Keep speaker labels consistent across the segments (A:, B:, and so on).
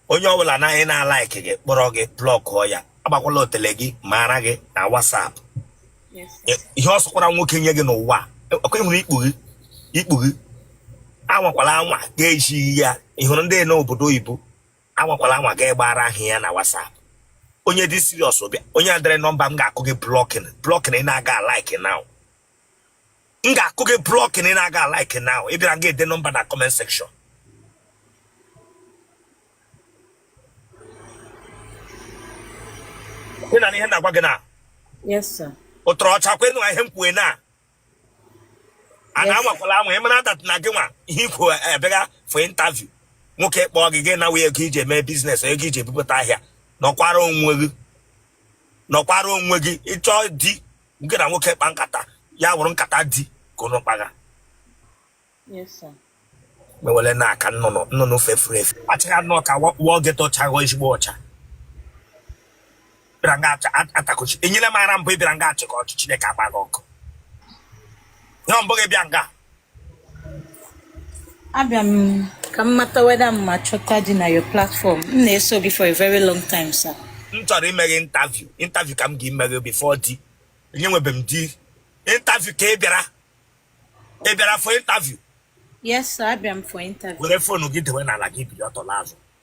A: onye ọbụla naghị na-alaiki gị kpọrọ gị blọkụọ ya agbakwala otele gị mara gị na WhatsApp ihe ọ sọkwara nwoke nye gị n'ụwa ọkwa ị hụrụ ikpu gị ikpu gị anwakwala anwa ga-ejighị ya ị hụrụ ndị n'obodo oyibo anwakwala anwa ga-agbara ha ya na WhatsApp onye dị serious bịa onye dere nọmba m ga-akụ gị blocking blocking ị na-aga like now m ga-akụ gị blocking ị na-aga like now ị bịara ga-ede nọmba na comment section ị nụ ihe na-agwa gị na
B: ụtọrọ ọcha kwenu
A: ihe m kwue na a na-anwakwala anwa ị mara that na gị nwa ihe ikwu abịaga for interview nwoke kpọọ gị gị nawa ego iji eme business ego iji ebupụta ahịa nọkwara onwe gị nọkwara onwe gị ị chọọ di nke na nwoke kpa nkata ya wụrụ nkata di ka unu
B: kpaga mewere na
A: aka nnụnụ nnụnụ fefuru efe achịghị anụ ọka wụọ gị tọchaghọ ezigbo ọcha bịara nga atakochi enyere m ara mbụ ị bịara nga achịga ọchị Chineke agba gị ọkụ ya mbụ gị bịa nga
B: abịa m ka m mata whether m ma chọta di na your platform m na-eso gị for a very long time sir m chọrọ ime gị
A: interview interview ka m ga-eme gị before di enye nwebe m di interview ka ị bịara ị bịara for interview yes sir
B: abịa m for interview were phone gị dewe n'ala
A: gị bili ọtọ laa azụ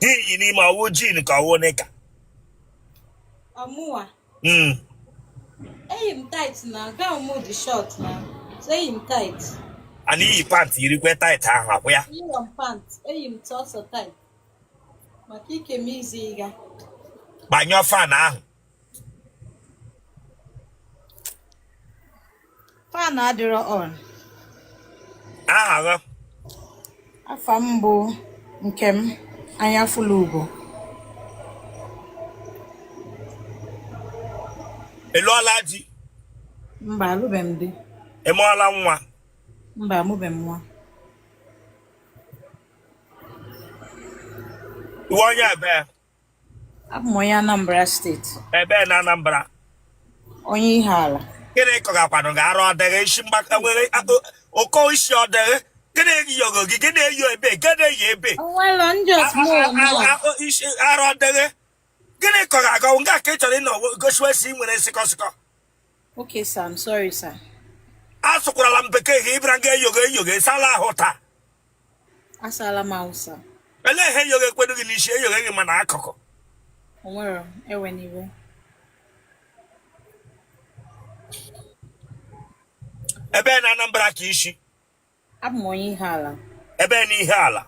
A: i yi n'ime ọ wụ jean ka ọ wụ knicker ọmụwa
B: hmm. eyi m tight na gown m dị short na so eyi m tight a na-eyi
A: pant yirikwe tight ahụ akwụ ya eyi m pant
B: eyi m sọsọ tight maka ike m izi ị gaa gbanyụọ
A: fan ahụ
B: Fan adịrọ
A: on. Aha gị?
B: Afa m bụ Nkem Anyafulugo.
A: Ị lụọla di?
B: Mba, alụbe m di. Ị mụọla
A: nwa? Mba, amụbe
B: m nwa.
A: Ị wụ onye ebee?
B: Abụ m onye Anambra steeti. Ebee na
A: Anambra?
B: Onye Ihiala. Gịnị
A: kọgakwanụ gị arụ ọ dị gị isi mgbaka nwere ụkọ isi ọ dị gị? Gịnị yọgo gị? Gịnị eyi ebe? Gịnị eyi ebe? Onwere ndị isi arụ ọ dị gị? Gịnị kọga gị nga ka ị chọrọ ịnọ gosiwe si nwere sịkọ sịkọ? Okay,
B: sir, I'm sorry, sir. Asụkwarala
A: m bekee gị ị bịara nga eyogo eyogo ị saala ahụ taa.
B: asala m ahụ sa ele ihe
A: yoghe ekwedo gị n'isi eyoghe gị mana akụkụ
B: onwere ewena
A: iwe ebee na Anambra ka i si abụ m onye
B: Ihiala ebee na
A: Ihiala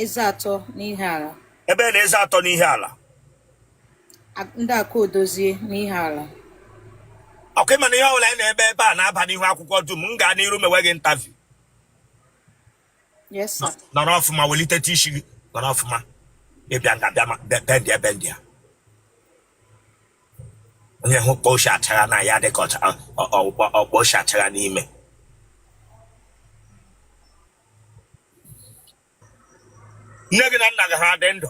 B: eze atọ n'Ihiala ebee na eze
A: atọ n'Ihiala
B: ndị akụ odozie n'Ihiala
A: okay ị ma na ihe ọbụla anyị na-eme ebe a na-aba n'ihu akwụkwọ dum m gaa n'iru mewe gị interview
B: Yes, sir. Nọrọ ọfụma
A: welite isi gị nọrọ ọfụma ị bịa nga bịa ma- be- bend ya bend ya onye hụ kpọ oshi achara na ya dịka ọcha- ọ- ọ- ọ- ọ- ọkpọ oshi achara n'ime nne gị na nna gị ha dị ole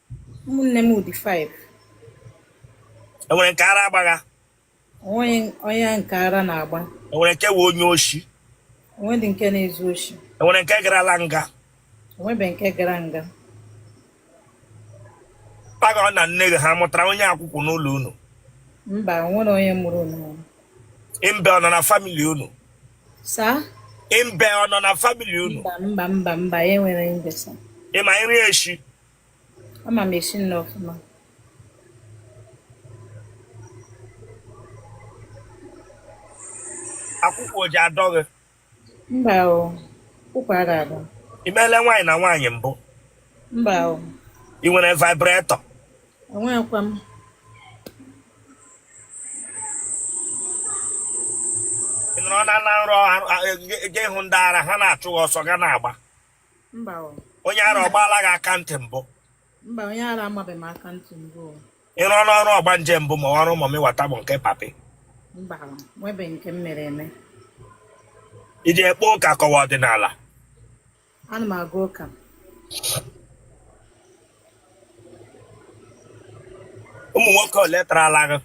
B: ụmụnne m dị
A: 5 enwere nke ara agbagha
B: onweghị nke ara na-agba enwere nke wụ onye
A: oshi onwedị nke
B: na-ezu oshi enwere nke garala
A: nga onwebe nke
B: gara nga
A: papa gị na nne gị ha mụtara onye akwụkwụ n'ụlọ unu
B: mba onwerọ onye mụrụ unu imbe
A: ọ nọ na family unu saa
B: imbe
A: ọ nọ na family unu mba mba mba mba
B: enwerọ imbe sa ị ma nri
A: eshi
B: ama m esi nri
A: ọfụma akwụkwụ ọ ji adọ gị mba o
B: akwụkwụ adị adọ i meela nwaanyị na
A: nwaanyị mbụ mba
B: o ị
A: nwere vibrator
B: enweghịkwa
A: m ị nọrọ na na nrọ ha- ha- gị hụ ndị ara ha na-achụ gị ọsọ gị ana-agba
B: mba o onye ara ọ
A: gbaala gị aka ntị mbụ mba onye
B: ara amabeghị m aka ntị mbụ o ị rụọna ọrụ
A: ọgbanje mbụ ma ọrụ mọmị wata bụ nke papi mba o
B: nwebeghị nke m mere eme
A: ị ji ekpe ụka ka ọ wụ
B: ọdịnala ana m aga
A: ụka ụmụ nwoke ole tarala gị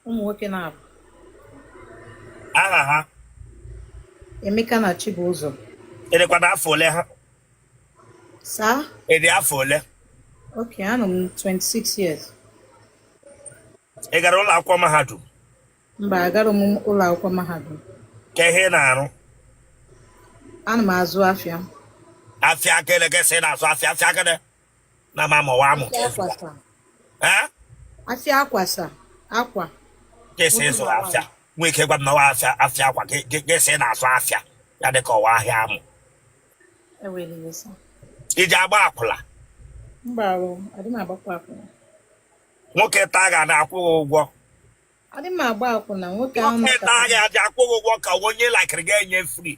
B: ụmụ nwoke
A: naabọ aha
B: ha Emeka na Chibụzọ ị
A: dịkwanụ afọ ole ha
B: saa ị dị afọ
A: ole ok anọ
B: m 26
A: years ị gara ụlọ akwụkwọ mahadum mba
B: agarọ m ụlọ akwụkwọ mahadum kee ihe ị
A: na-arụ
B: ana m azụ afịa afịa
A: akele gị sị na-azụ afịa afịa akele na ma ma ọ wụ amụ ka ịzụ ya
B: ee afịa akwa sa akwa ka ị
A: sị ịzụ afịa nwee ike gwa m na ọ wụ afịa afịa akwa ka ka- ka ị sị na-azụ afịa ya dị ka ọ wụ ahịa amụ ewela iwe sa ị ji agba akwụla
B: mba o adị m agbakwa akwụna
A: nwoke taa gị a na-akwụ gị ụgwọ adị m
B: agba akwụna nwoke ahụ nwoke maka taa gị adị akwụ
A: gị ụgwọ ka ọ wụ onye laịkịrị gị enye free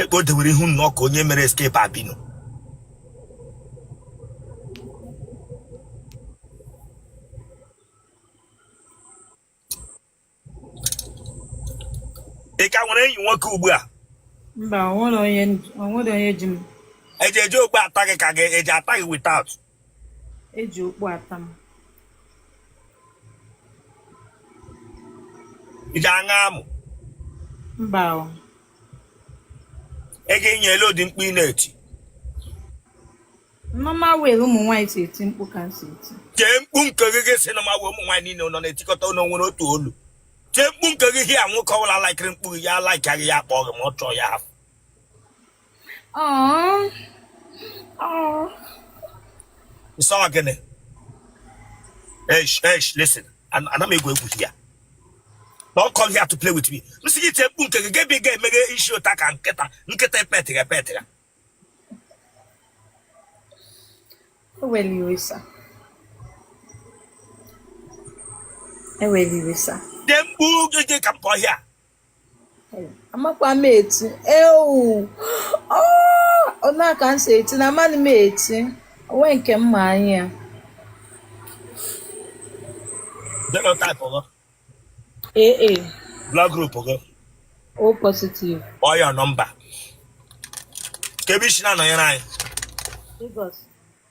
A: ekpe o dewere ihu nnọọ ka onye mere escape albino ị ka nwere enyi nwoke ugbu a mba
B: onwere onye ji m eji eji okpu
A: ata gị ka gị eji ata gị without
B: eji okpu ata
A: m iji aṅa amụ mba
B: o
A: ego inye ele ụdị mkpu ị na-eti
B: mama were ụmụ nwaanyị si eti mkpu ka m si eti tie mkpu nke
A: gị ị sị na ma wee ụmụ nwaanyị niile nọ na-etikọta ụlọ nwere otu olu tie mkpu nke gị here nwoke ọbụla laikiri mkpu gị ya laikia gị ya kpọọ gị ma ọ chọọ ya hafụ Ị sị gịnị? Eish, eish, listen. Ana m egwu egwu here. Don't come here to play with me. M sị gị tie mkpu nke gị gị ga-emeghe isi ụta ka nkịta nkịta epetịrị
B: epetịrị. Ewela iwe
A: sir. Ewela iwe sir. Tie mkpu gị ka m pụọ here.
B: amakwa m eti ewu ona ka m si eti na amaghị m eti onwe nke m ma anya ya
A: Genotype gị.
B: AA
A: Blood group gị.
B: O positive Kpọọ your
A: number. Kee ebe i si na-anọnyere anyị. Lagos